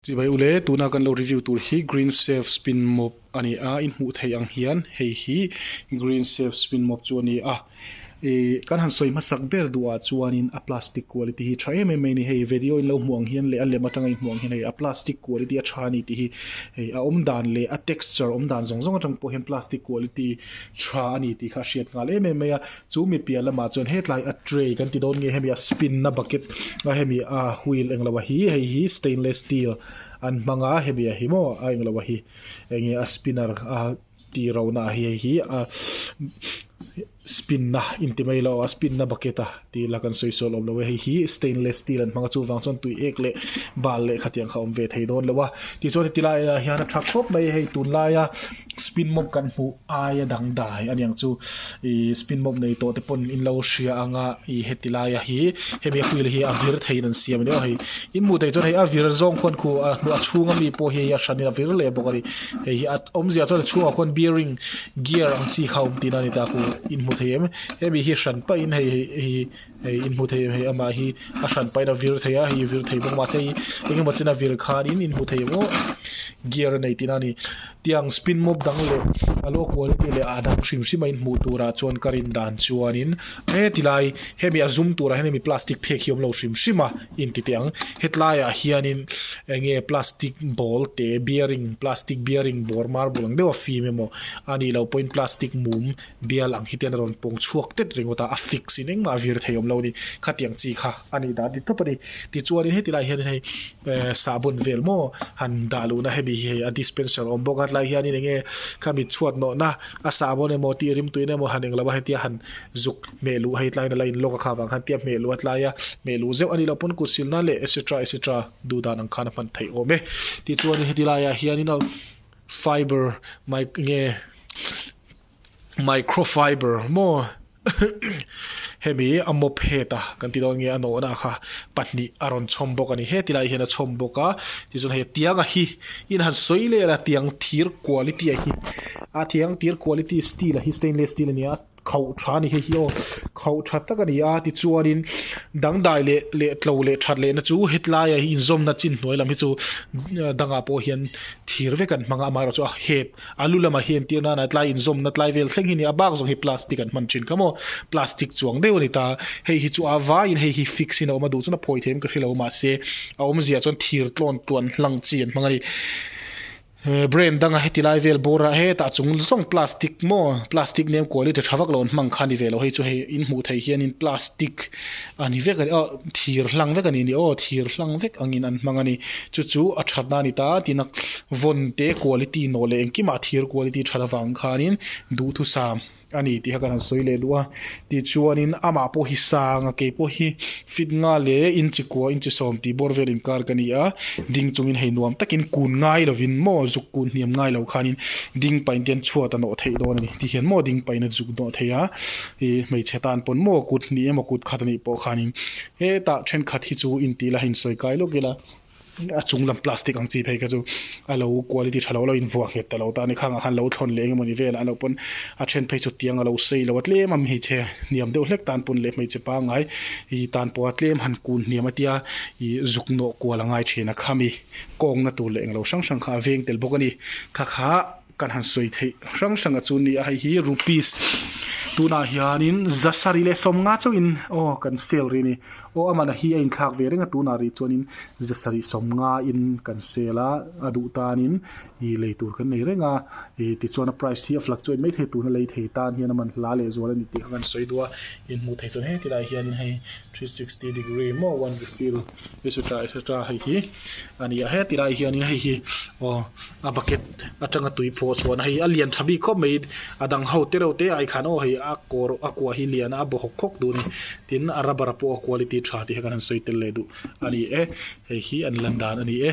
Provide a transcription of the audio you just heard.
Chih mai ule, tuna kan lo review tur hi Green Safe Spin Mop a ni a, in hmuh theih ang hian hei hi Green Safe Spin Mop chu a ni a. Ih kan han sawi hmasak ber duhah chuanin a plastic quality hi a tha em em mai a ni. Hei video-in lo hmuh ang hian leh a lem atanga inhmuh ang hian hei a plastic quality a tha a ni tih hi hei a awm dan leh a texture awm dan zawng zawng atang pawh hian plastic quality tha a ni tih kha a hriat nghal em em mai a. Chu mi piah lamah chuan hetlai a tray kan ti dawn nge hemi a spin na bucket a hemi a wheel englo a hi hei hi stainless steel an hmang a hemi a hi maw a englo a hi eng nge a spinner a tiro na a hi hei hi a spin na inti mai lo a spin na bucket a ti ila kan sawi sual awm lo e hei hi stainless steel an hmang a chuvang chuan tui ek leh bal leh khatiang kha awm ve thei dawn lo a tichuan heti laiah hian a tha khawp mai hei tunlaia-- spin mop kan hmuh aia dang dai a niang chu ihh spin mop nei tawh te pawh in lo hria ang a ih heti lai a hi hemi a field hi a vir thei in an siam leh a hei in hmuh theih chuan hei a vir zawng khawn khu a hnu a chhung a mi pawh hi hei hi a hran in a vir leh bawk a ni hei hi a awmzia chuan a chhungah khawn bearing gear ang chi kha a awm tihna a ni ta a hmuh in hmuh theih em hemi hi hran paih in hei hi. hei in hmuh theih em hi amah hi a hran paih in a vir thei a hei i vir thei bawk mahse hei eng emaw chin a vir khan in in hmuh theih ang u gear a nei tihna a ni tiang spin mop dang leh a low quality leh a dang hrim hrim a in hmuh tur ah chuan ka rawn dan chuan in he ti lai hemi a zum tur ah hian hemi plastic phek hi awm lo hrim hrim a in ti teh ang hetlai ah hian in eng nge plastic ball teh bearing plastic bearing bawr marbul ang deuh a fim emaw a nih loh pawhin plastic mum-- Bial ang hi ten a rawn pawng chhuak tet ringawt a, a fix in engmah a vir thei awm lo a ni, khatiang chi kha a nih dan dik tawp a ni. Tichuanin heti lai hianin hei sahbawn vel maw han dah luhna hemi hi hei a dispenser a awm bawk a, tlai hianin enge kha mit chhuat nawhna a sahbawn emaw tih rim tuina emaw han eng lo a, hetia han zuk hmeh luh hei tlaiin a la inlock a kha vang khan tia hmeh luh a tlai a, hmeh luh zeuh a ni lo pawn kut silna leh etc etc duh dan ang khan a hman thei awm e. Tichuanin heti laiah hianin fibre mic nge. Microfiber maw hemi a mop het a kan ti dawn nge a nawhna kha pahnih a rawn chhawm bawk a ni he tilai hian a chhawm bawk a tichuan he tianga hi in han sawi lel a tiang thir quality a hi a thiang tir quality steel a hi stainless steel a ni a khauh tha a ni hei hi aw khauh tha tak a ni a tichuanin dangdai leh leh tlo leh that lehna chu hetlaia hi inzawmna chin hnuai lam hi chu dangah pawh hian thir vek an hmang a amaherawhchu a het. A lu lama hian tir nana tlai inzawmna tlai vel thleng hi a ni a, bak zawng hi plastic an hman thin kha maw, plastic chuang deuh a ni ta. Hei hi chu a vaiin hei hi fix in a awm a duh chuan a phawi thei em ka hre lo mahse a awmzia chuan thir tlawn tluan hlang chi an hmang a ni. Brain danga heti lai vel bawra hetah chung zawng plastic maw, plastic nem kuali ṭha ṭha vak lo an hmang kha a ni ve lo. Hei chu hei in hmuh theih hianin plastic. A ni vek a ni, aw, thir hlang vek a nih ni aw, thir hlang vek angin an hmang a ni. Chu chu a thatna a ni ta, tiin a vawn te quality nawh leh engkimah thir quality that avang khanin duhthusam sam a ni tih kha kan han sawi leh duh a. Tichuanin amah pawh hi sang a, keipawh hi feet nga leh inchi kua inchi sawm tih bawr vel inkar ka ni a, ding chungin hei nuam takin kun ngai lovin maw zuk kun hniam ngai lo khanin ding painte an chhuat a nawh theih dawn a ni. Tihian maw ding paina zuk nawh theih a, I hmeichhe tan pawn maw kut hnih emaw kut khat anih pawh khanin hetah thenkhat hi chu intih la insawi kai lawk ila a chung lam plastic ang chi phei kha chu a lo quality tha lo a lo invuah nghet ta lo ta a ni khangah khan lo thlawn leh eng emawni velah a lo pawn a then phei chu tiang a lo sei lo a tlem a hmeichhe hniam deuh hlek tan pawn leh hmeichhe pangngai i tan pawha tlem han kun hniam a tia i zuk nawh kual a ngai thin a khami kawngna tur leh englo hrang hrang kha a veng tel bawk a ni khakha. Kan han sawi theih hrang hrang a chu nia hei hi rupees tunah hianin za sarih leh sawm nga chauh in aw kan sale ri a ni aw amana hi a inthlak ve reng a tunah rih chuanin za sarih sawm nga in kan sale a a duh tanin ih lei tur kan nei reng a ih tichuan a price hi a fluctuate mai thei tuna lei thei tan hian a man hla leh zual a ni tih ka rawn sawi dua in hmuh theih chuan heti lai hianin hei three sixty degree emaw a refill etcetera etcetera hei hi a ni a he ti lai ah hian in hei hi aw a bucket atanga tui phuh chhuahna hei a lian tha bik khawp mai a dang ho te reuh te ai khan aw hei a kawr a kuah hi lian a a bawhawk khawk duh a ni tin a rubber pawh a quality tha tih kha kan han sawi tel leh duh a ni e hei hi an lan dan a ni e.